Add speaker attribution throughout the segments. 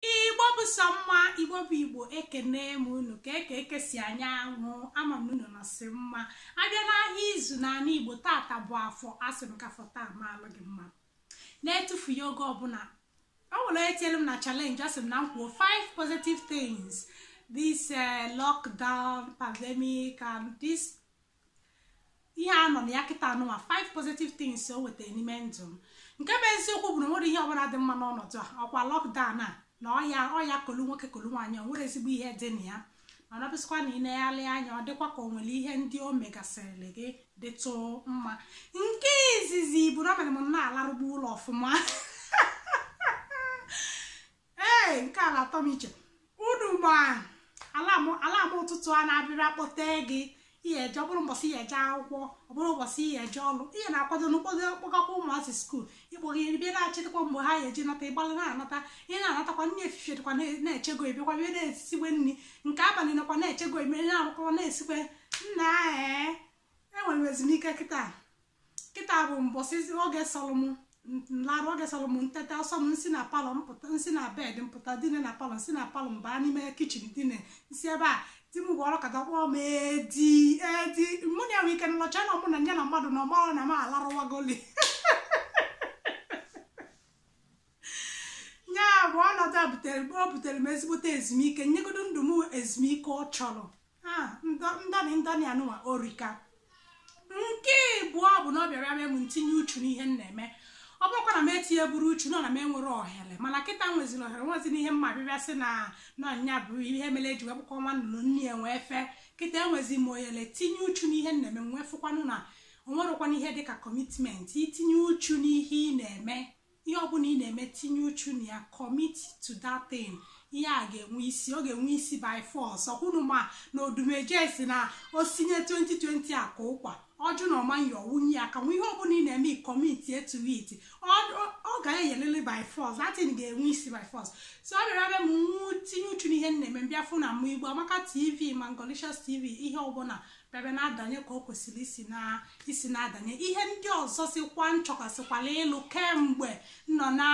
Speaker 1: igbo bụ sọ mma igbo bụ igbo ekene m unu ka eke eke si anya anwụ ama m unu nọsị mma a bịa n'ahịa izu n'ala igbo tata bụ afọ asị m ka afọ taa maalụ gị mma n'etufughị oge ọbụla ọ bụ na e tielu m na challenge asị m na m kwuo five positive things this uh, lockdown pandemic and this ihe a nọ na ya kịta anụwa five positive things o wetara n'ime ndụ m nke bụ eziokwu bụ na o nwerọ ihe ọbụla dị mma n'ọnọdụ a ọkwa lockdown a na ọya kolu nwoke kolu nwaanyị o nwerọ ezigbo ihe dị na ya mana ọ bụsịkwa na i negharịa anya ọ dịkwa ka o nwere ihe ndị o megasịrị gị dịtụ mma nke izizi bụ na o mere m na-alarụgbu ụla ọfụma ee nke ala atọ m iche unu ma alarm ụtụtụ a na-abịrị akpọte gị ị ya-eje ọ bụrụ mbọsị ị ya-eje akwụkwọ ọ bụrụ ụbọchị ị ya-eje ọrụ ị ya na-akwado n'ụkpọdo kpọgakwa ụmụazị school ịkpọghị bịa na-echetakwa mgbe ha ga-eji nata ịgbalị na-anata ị ya na-anatakwa nri efifie dịkwa na-echego ebekwa bịa na-esikwe nri nke abalị nakwa na-echego eme na-arụkwa na-esikwe nna ee enwere m ezumike kịta kịta bụ mbọsị oge sọrọ m nlarụ oge sọrọ m nteta ọ sọ m nsi na parlour mpụta nsi na bed mpụta dine na parlour nsi na parlour m baa n'ime kitchen dine nsi ebe a di m gwara ka dakpọọ m edi edi mụ na enwe ike nlọcha na mụ na nye na mmadụ na ọmara na m alarụwagoli ya bụ ọnọdụ a butere mgbe o butere m ezigbote ezumike nyegodo ndụ m ezumike ọ chọrọ ndani ndani anụwa erika nke ịbụọ bụ na ọ bịara mee m ntinye uchu n'ihe m na-eme ọ bụrọkwa na m etinyeburọ uchu nọ na m enwerọ ohere mana kịta nweziri ohere nwezi n'ihe mma bịbịa sị na nọ nya bụ ihe mere eji wee kpụkọ nwa nnụnụ nne ya wee fee kịta enwezi m ohere tinye uchu n'ihe m na-eme nwee fụkwanụ na o nwerọkwanụ ihe dịka commitment itinye uchu n'ihe ị na-eme ihe ọbụla ị na-eme tinye uchu na ya commit to that thing ihe a ga-enwe isi ọ ga-enwe isi by force ọkwa unu ma na odumeje sị na o sinye 2020 a ka ụkwa ọ jụ na ọ ma-eye ọ wụnye ya akanwụ ihe ọbụla ị na-eme commit to it ọ ga-eyelili by force that thing ga-enwe isi by force so ọ bịara mee m nwee tinye uchu n'ihe m na-eme m bịa fụ na ma igbo amaka tv ma ngolicious tv ihe ọbụla bịa na-adanye ka o kwesịrị isi na isi na-adanye ihe ndị ọzọ sikwa nchọkasịkwala ịlụ kemgbe nọ na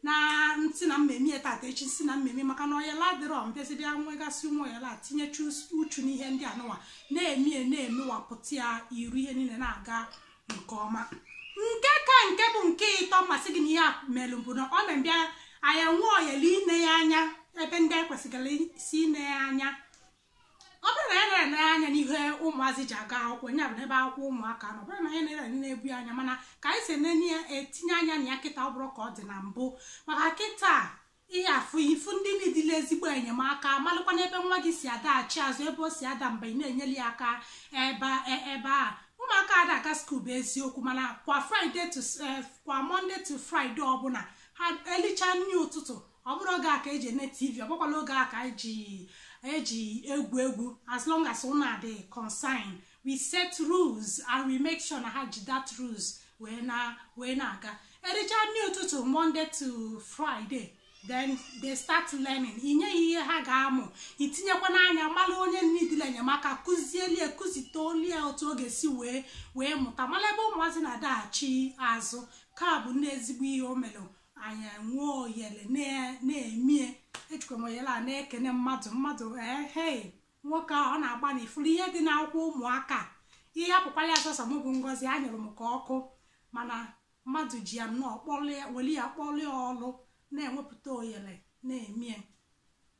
Speaker 1: na nsị na m ma-eme ya tata echi sị na m ma-eme maka na oyele adịrọ m bịazi bịa nwegasị ụmụ oyele tinyecha uchu n'ihe ndị anụwa na-eme ya na-emewapụta ya iru ihe niile na-aga nke ọma nke ka nke bụ nke ịtọ m ma-asị gị na ihe a mere bụ na ọ na-abịa anyị nwee oyele ine ya anya ebe ndị anyị kwesịrị isi ine ya anya ọ bụrụ na ya na-ele anya n'ihe ụmụazị ji aga akwụkwọ nya bụ n'ebe akwụkwọ ụmụaka nọ ọ bụrụ na anyị na-ele anya na-ebu ya anya mana ka anyị si enene ya etinye anya na ya kịta ọ bụrọ ka ọ dị na mbụ maka kịta ihe afụ ifu ndị nidile ezigbo enyemaka malụkwa n'ebe nwa gị si adaghachi azụ ebe o si ada mgbe ị na-enyeli ya aka ebe e- ebe a ụmụaka ada aga school bụ eziokwu mana kwa friday to eh, kwa monday to friday ọbụla ha elicha nri ụtụtụ ọ bụrọ oge a ka eji ene tv ọ bụkwarọ oge a ka eji eji egwu egwu as long as una dey concern we set rules and we make sure na ha ji that rules wee na wee na-aga ericha nri ụtụtụ monday to friday then they start learning i nye ha ihe ha ga-amụ i tinyekwanụ anya mara onye nidile enyemaka kụzielie kụzitelie otu ọ ga-esi wee wee mụta mara ebe ụmụazị na-adaghachi azụ nke a bụ nnọọ ezigbo ihe o mere anyị enwee oyele na-emie ejikwa m oyele a na-ekene mmadụ mmadụ ehe nwoke a ọ na-agbanị ị fụrụ ihe dị n'akwụkwọ ụmụaka ihe a hapụkwala ya sọsọ mụ bụ ngozi anyụrụ m ka ọkụ mana mmadụ ji ya nnọọ kpọlịa weli ya kpọlịa ọlụ na-enwepụta oyele na-emie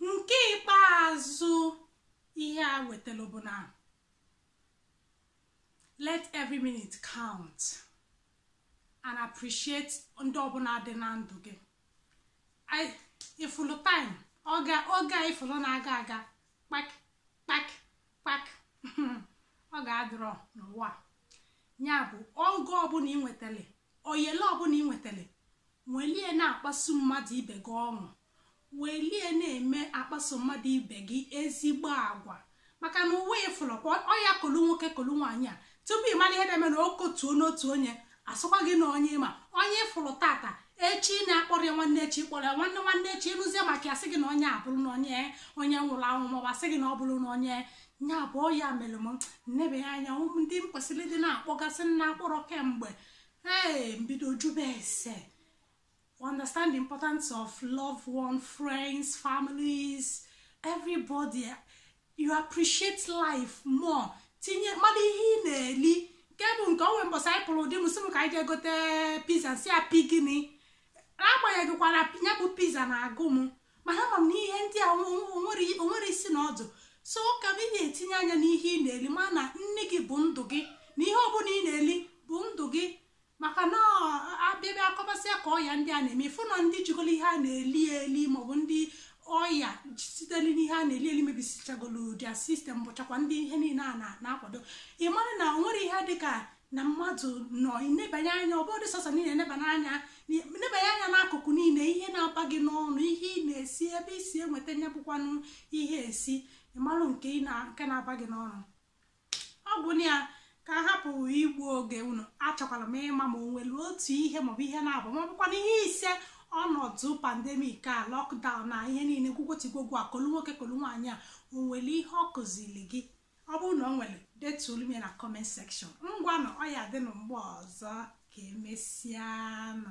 Speaker 1: nke ikpeazụ ihe a wetara bụ na let every minute count and appreciate ndị ọbụla dị na ndụ gị ị fụlụ time oge oge a ị fụlụ na-aga aga kpak kpak kpak oge adịrọ n'ụwa ya bụ oge ọbụla ị nwetara oyele ọbụla ị nwetara welie na-akpaso mmadụ ibe gị ọṅụ welie na-eme akpaso mmadụ ibe gị ezigbo agwa maka na ụwa ị fụrụ ọya kolu nwoke kolu nwaanyị a tupu ị mara ihe na-eme na o kotuo n'otu onye a sịkwa gị na onye ị ma onye ị fụrụ tata echi na-akpọrọ ya nwanne echi kpọrọ ya nwanne nwanne echi ị nụzie maka ya a sị gị na onye abụrụ na onye onye nwụrụ anwụ maọbụ asị gị na ọ bụrụ na onye nya bụ ọ ya mere m nebe ya anya ụmụ ndị m kwesịrị ịdị na-akpọgasị m na-akpọrọ kemgbe ee m bido jụbe ese understand the importance of loved ones friends families everybody you appreciate life more tinye mmadụ ihe ị na-eli nke bụ nke o nwe mbọsị anyị pụrụ di m sị m ka anyị jee gote pizza m sị ya pi gịnị n'agbanyeghịkwa na ya bụ pizza na-agụ m mana ama m na ihe ndị a o nwerọ isi na ọdụ so ka ị na-etinye anya n'ihe ị na-eli ma na nni gị bụ ndụ gị na ihe ọbụla ị na-eli bụ ndụ gị maka na a bịa bịa akọbasịa ka ọya ndị a na-eme ị fụ na ndị jikọrọ ihe a na-eli eli maọbụ ndị ọya sitere n'ihe a na-eli eli mebisichagolu their system bụchakwa ndị ihe niile a na-akwado ị mara na o nwere ihe dịka na mmadụ nọ ịnebanye anya ọ bụrụ sọsọ niile nebanye anya nebanye anya n'akụkụ niile ihe na-aba gị n'ọnụ ihe ị na-esi ebe i si enweta nye bụkwanụ ihe e si ịmarụ nke na-aba gị n'ọnụ ọ bụ na ya ka a hapụ igbu oge unu achọkwara m ịma ma o nwere otu ihe maọbụ ihe naabọ ma ọ bụkwa na ihe ise ọnọdụ pandemic a lockdown na ihe niile gwugwotigwogwu a kolu nwoke kolu nwaanyị a o nwere ihe ọ kụziri gị ọ bụrụ na o nwere detulu m ya na comment section ngwanụ ọ ya dịnụ mgbe ọzọ ka e mesịanụ